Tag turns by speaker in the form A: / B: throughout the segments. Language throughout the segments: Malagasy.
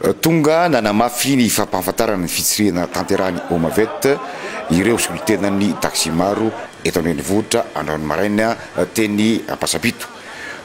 A: Tonga nanamafy ny fampahafantarana ny fitsirihana tanterahan'ny Homavet ireo solontenan'ny taxi-maro eto an-drenivohitra androany maraina teny Ampasampito.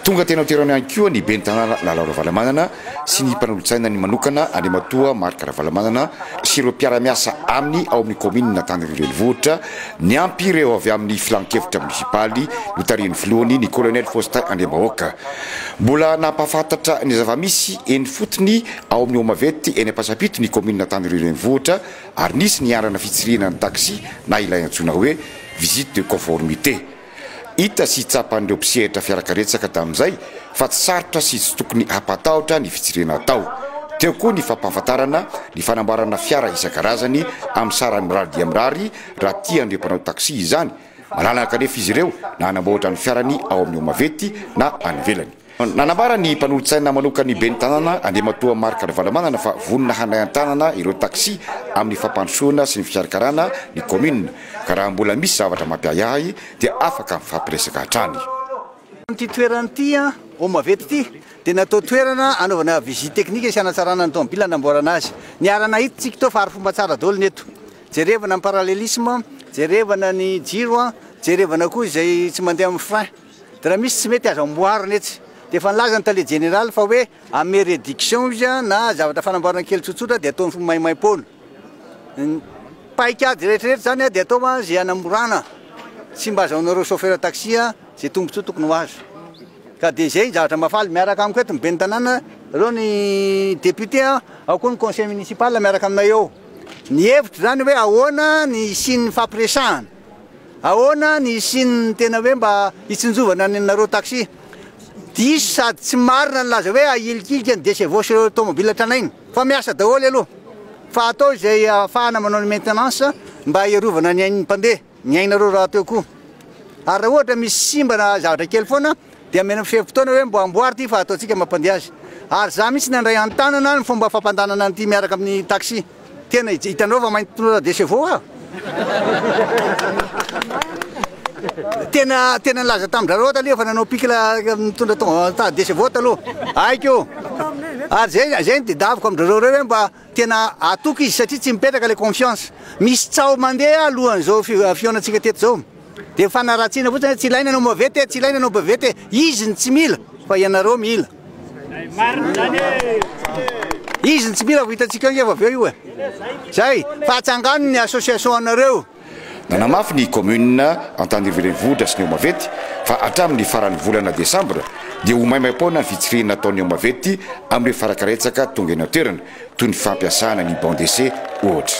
A: Tonga teny an-toerana ihany koa ny ben'ny tanàna Lalao Ravalomanana sy ny mpanolotsainany manokana Andriamatoa Marc Ravalomanana sy ireo mpiara-miasa aminy ao amin'ny kaominina Antaniry renivohitra Niampy ireo avy amin'ny Filan-kevitra monisipaly notarihin'ny filohany, ny Kolonely Faustin Andriambahoaka. Mbola nampahafantatra ny zava-misy eny ifotony ao amin'ny Homavety eny Ampasampito ny kaominina Antanireo Renivohitra ary nisy ny andrana fitsirihina ny taxi na ilay antsoina hoe visite de conformité. Hita sy tsapan'ireo mpisehatra fiarakaretsaka tamin'izay fa tsy sarotra sy tsy tokony hampatahotra ny fijirena atao. Teo koa ny fampahafantarana ny fanamboarana fiara isan-karazany amin'ny sarany mirary dia mirary raha tian'ireo mpanao taxi izany. Malalaka anefa izy ireo na hanamboatra ny fiarany ao amin'ny Homavety na any ivelany. Nanambara ny mpanolotsaina manokan'ny ben'ny tanàna, Andriamatoa Marc Ravalomanana fa vonona handray an-tanana ireo taxi amin'ny fampandrosoana sy ny fikarakarana ny kaominina ka raha mbola misy zavatra mampiahiahy dia afaka mifampiresaka hatrany. Amin'ity
B: toerana ity, Eau Mavety ity, dia natao toerana hanaovana visite technique sy hanatsarana ny tomobila hanamboarana azy. Niara-nahita isika tao fa arifomba tsara daholo ny eto. Jerevana ny parallelisme, jerevana ny jiro, jerevana koa izay tsy mandeha amin'ny frein. Dia raha misy tsy mety azo amboarina etsy dia efa nilaza ny tale jeneraly fa hoe ame réduction izy na zavatra fanamboarana kely tsotsotra dia ataony maimaimpoana. Ny paikady rehetrarehetra izany dia atao izay hanamorana tsy mba azahoanareo chauffeur taxi izay tombotsoa tokony ho azo. Ka dia izay ny zavatra mahafaly. Miaraka amiko eto ny ben'ny tanàna, reo ny députés an, ao koa ny conseil municipal miaraka aminay eo. Ny hevitro izany hoe ahoana ny hisian'ny hifampiresahana. Ahoana ny hisian'ny tena hoe mba hitsinjovana ny anareo taxi? Diso sady tsy marina ny laza hoe ahilikilika ny Decevaux sy ireo tomobila tranainy fa miasa daholo aloha fa atao izay ahafahana manao ny maintenance mba hiarovana ny ain'ny mpandeha, ny ainareo rahateo koa ary raha ohatra misy simba na zavatra kely foana Dia mena ferim-potoana hoe mba amboary ity fa ataontsika mampandeha azy. Ary izaho mihitsy nandray an-tanana ny fomba fampandànana an'ity miaraka amin'ny taxi. Tena hitanao fa mainty pneu de chevaux aho. Tena tena nilaza tamin-dRarot aloha fa nanao pic la mitondra tongava de chevaux taloha. Haiko. Ary izay izay no tedaviko amin-dRarot ireo hoe mba tena hatoky izy satria tsy mipetraka ilay confiance. Misy tsaho mandeha alohan'izao fihaonantsika teto izao. Dia fanaratsiana fotsiny hoe tsy ilaina anao mavety e, tsy ilaina anao bavety e. Izy no tsy mila fa ianareo mila. Izy no tsy mila vao hitantsika eo angeva avy eo io e. Zay, fa atsangano ny association anareo. Nanamafy ny
A: Commune Antanivo Renivohitra sy ny Omavety fa hatramin'ny faran'ny volana desambra dia ho maimaim-poana ny fitsirihina ataon'ny Omavety amin'ireo farakaretsaka tonga eny an-toerana. toy ny fampiasana ny banc d'essai ohatra.